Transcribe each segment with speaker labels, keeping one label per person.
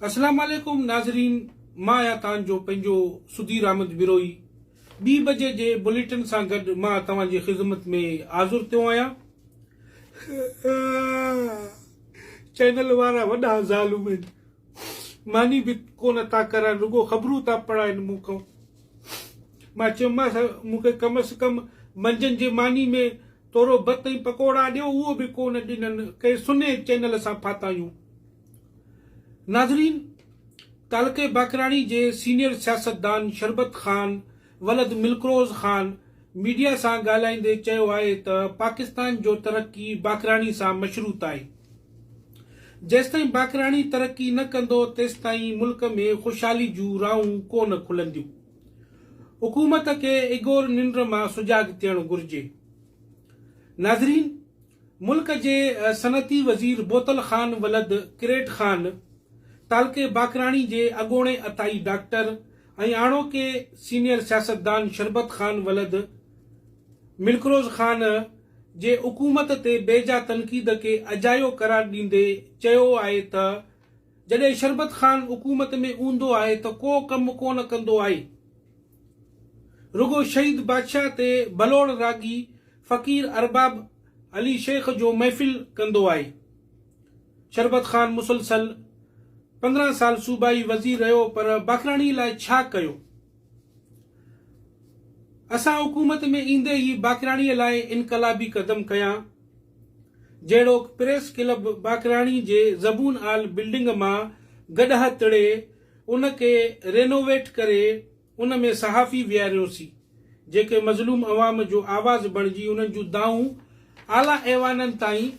Speaker 1: اسلام عليڪم ناظرين مان آهيان تان جو پنهنجو سڌير احمد بروهي ٻي بجي جي بليٽن سان گڏ مان توهان جي خذمت ۾ حاضر ٿيو آهيان چينل وارا وڏا ظالم آهن ماني به ڪونه ٿا ڪرن رڳو خبرون ٿا پڙهائن مون کان مان چيومانس مون کي ڪم از ڪم منجهند جي ماني ۾ ٿورو ڀت ۽ پڪوڙا ڏيو اهو به ڪونه ڏنن ڪنهن سنهي چينل سان ڦاتايون. ناظرين! تعلقي باقراڻي جي سينيئر سياستدان شربت خان ولد ملڪروز خان ميڊيا سان ڳالهائيندي چيو آهي ته پاڪستان جو ترقي باقراڻي سان مشروط آهي. جيستائين باقراڻي ترقي نه ڪندو تيستائين ملڪ ۾ خوشحالي جون راهون ڪونه کلنديون. حڪومت کي اگور ننڊ مان سجاڳ ٿيڻ گهرجي. ناظرين! ملڪ جي صنعتي وزير بوتل خان ولد ڪريٽ خان، تعلقي باقراڻي جي اڳوڻي عطائي ڊاڪٽر ۽ هاڻوڪي سينيئر سياستدان شربت خان ولد ملڪروز خان جي حڪومت تي بيجا تنقيد کي اجايو قرار ڏيندي چيو آهي ته جڏهن شربت خان حڪومت ۾ اونڌو آهي ته ڪو ڪم ڪونه ڪندو آهي. رڳو شهيد بادشاهه تي ڀلوڙ راڳي فقير ارباب علي شيخ جو محفل ڪندو آهي. شربت خان مسلسل پندرهن سال صوبائي وزير رهيو پر باکراڻي لاء ڇا ڪيو؟ اسان حڪومت ۾ ايندي ئي باقراڻي لاء انقلابي قدم کنيا، جهڙوڪ پريس ڪلب باقراڻي جي زبون آل بلڊنگ مان گڏهه تڙي ان کي رينوويٽ ڪري ان ۾ صحافي ويهاريوسين جيڪي مظلوم عوام جو آواز بڻجي انهن جون دانهون اعليٰ ايوانن تائين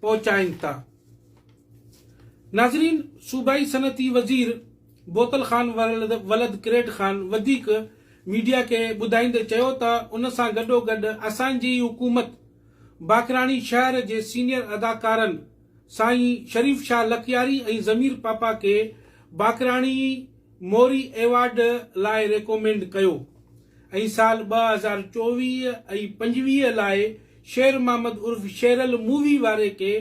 Speaker 1: پهچائين ٿا. ناظرين صوبائي صنعتي وزير بوتل خان ولد ڪريٽ خان وڌيڪ ميڊيا کي ٻڌائيندي چيو ته ان سان گڏوگڏ اسان جي ئي حڪومت باقراڻي شهر جي سينيئر اداڪارن سائين شريف شاهه لڪياري ۽ ضمير پاپا کي باقراڻي موري ايوارڊ لاء ريڪومينڊ ڪيو ۽ سال ٻه هزار چوويهه ۽ پنجويهه لاء شير محمد عرف شيرل مووي واري کي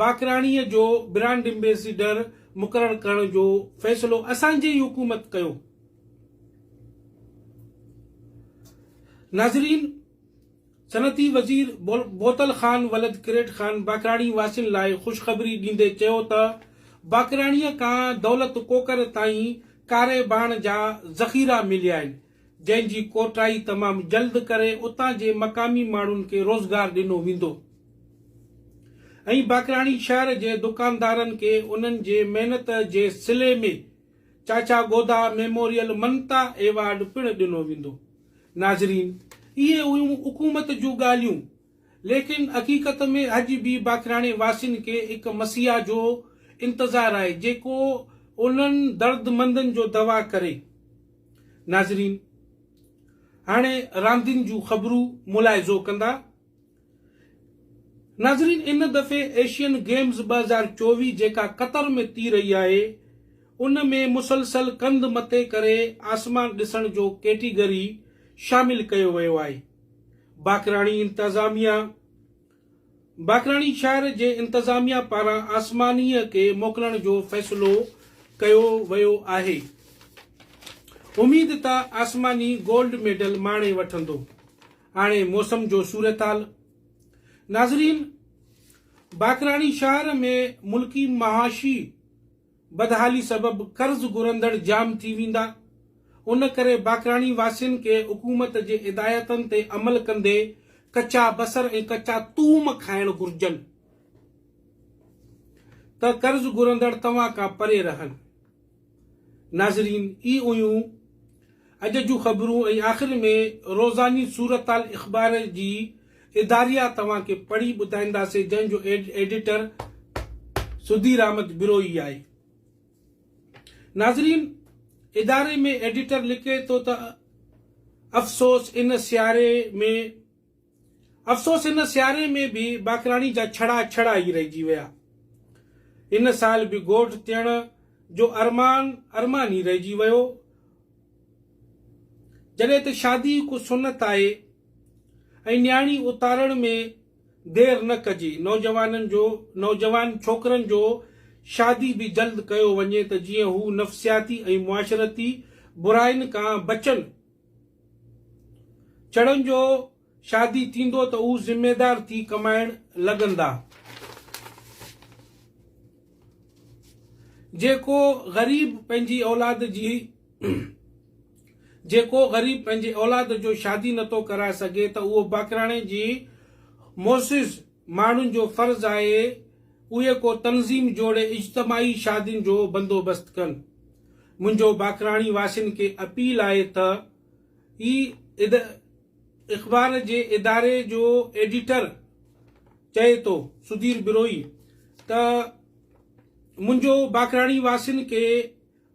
Speaker 1: باقراڻي جو برانڊ امبيسيڊر مقرر ڪرڻ جو فيصلو اسان جي ئي حڪومت ڪيو. ناظرين! صنعتي وزير بوتل خان ولد ڪريٽ خان باقراڻي واسين لاء خوشخبري ڏيندي چيو ته باقراڻيء کان دولت ڪوڪر تائين ڪاري ٻاڻ جا ذخيرا مليا آهن، جنهن جي ڪوٽائي تمام جلد ڪري اتان جي مقامي ماڻهن کي روزگار ڏنو ويندو ۽ باقراڻي شهر جي دڪاندارن کي انهن جي محنت جي صلي ۾ چاچا گودا ميموريل ممتا ايوارڊ پڻ ڏنو ويندو ناظرين اهي هيون حڪومت جون ڳالهيون ليڪن حقيقت ۾ اڄ به باقراڻي واسين کي هڪ مسيحا جو انتظار آهي جيڪو انهن دردمندن جو دوا ڪري. ناظرين هاڻي راندين جون خبرون ملاحظو ڪندا. ناظرين ان دفعي ايشين گيمز ٻه هزار چوويهه جيڪا قطر ۾ تي رهي آهي ان ۾ مسلسل ڪنڌ مٿي ڪري آسمان ڏسڻ جو ڪيٽيگري شامل ڪيو ويو آهي باقراڻي انتظاميا باقراڻي شهر جي انتظاميا پاران آسمانيء کي موڪلڻ جو فيصلو ڪيو ويو آهي، اميد ته آسماني گولڊ ميڊل ماڻي وٺندو. هاڻي موسم جو صورتحال ناظرين! باقراڻي شهر ۾ ملڪي معاشي بدحالي سبب قرض گهرندڙ جام ٿي ويندا، ان ڪري باقراڻي واسين کي حڪومت جي هدايتن تي عمل ڪندي ڪچا بصر ۽ ڪچا ٿوم کائڻ گهرجن ته قرض گهرندڙ توهان کان پري رهن. ناظرين اي اوهيون اڄ جون خبرون ۽ آخر ۾ روزاني صورتحال اخبار جي اداريا توهان کي پڙهي ٻڌائينداسين جنهن جو ايڊيٽر سڌير احمد بروهي آهي. ناظرين اداري ۾ ايڊيٽر لکي ٿو ته افسوس ان سياري ۾ افسوس ان سياري ۾ به باقراڻي جا ڇڙا ڇڙا ئي رهجي ويا. ان سال به ڳوٺ تيڻ جو ارمان ارمان ئي رهجي ويو. جڏهن ته شادي هڪ سنت آهي ۽ نياڻي اتارڻ ۾ دير نه ڪجي. نوجوانن جو نوجوان ڇوڪرن جو شادي به جلد ڪيو وڃي ته جيئن هو نفسياتي ۽ معاشرتي براين کان بچن چڙن جو شادي ٿيندو ته هو ذميدار ٿي ڪمائڻ لڳندا. جيڪو غريب پنهنجي اولاد جي جيڪو غريب پنهنجي اولاد جو شادي نٿو ڪرائي سگهي ته اهو باقراڻي جي معزز ماڻهن جو فرض آهي اهي ڪو تنظيم جوڙي اجتماعي شادين جو بندوبست ڪن. منهنجو باقراڻي واسين کي اپيل آهي تھ هي ايد اخبار جي اداري جو ايڊيٽر چئي ٿو، سڌير بروهي، تھ منهنجو باقراڻي واسين کي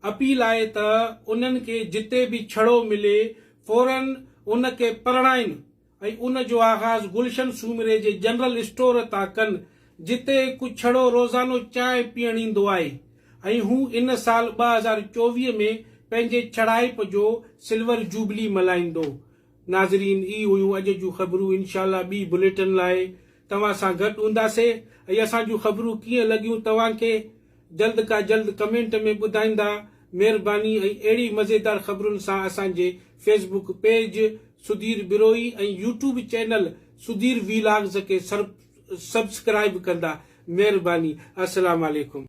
Speaker 1: اپيل آهي تھ انهن کي جتي به ڇڙو ملي فورن ان کي پرڻائين ۽ ان جو آغاز گلشن سومري جي جنرل اسٽور تان ڪن، جتي هڪ ڇڙو روزانو چانهه پيئڻ ايندو آهي ۽ هو ان سال ٻه هزار چوويهه ۾ پنهنجي ڇڙائپ جو سلور جوبلي ملهائيندو. ناظرين هي هيون اڄ جون خبرون انشاء الله ٻي بليٽن لاء توهان سان گڏ هونداسي ۽ اسان جون خبرون ڪيئن لڳيون توهان کي؟ جلد کا جلد ڪمينٽ ۾ ٻڌائيندا مھرباني ۽ اھڙي مزيدار خبرن سان اسان جي Facebook page Sudheer Brohi ۽ YouTube channel Sudheer vlogs کي سبسڪرائب ڪندا مھرباني السلام عليڪم.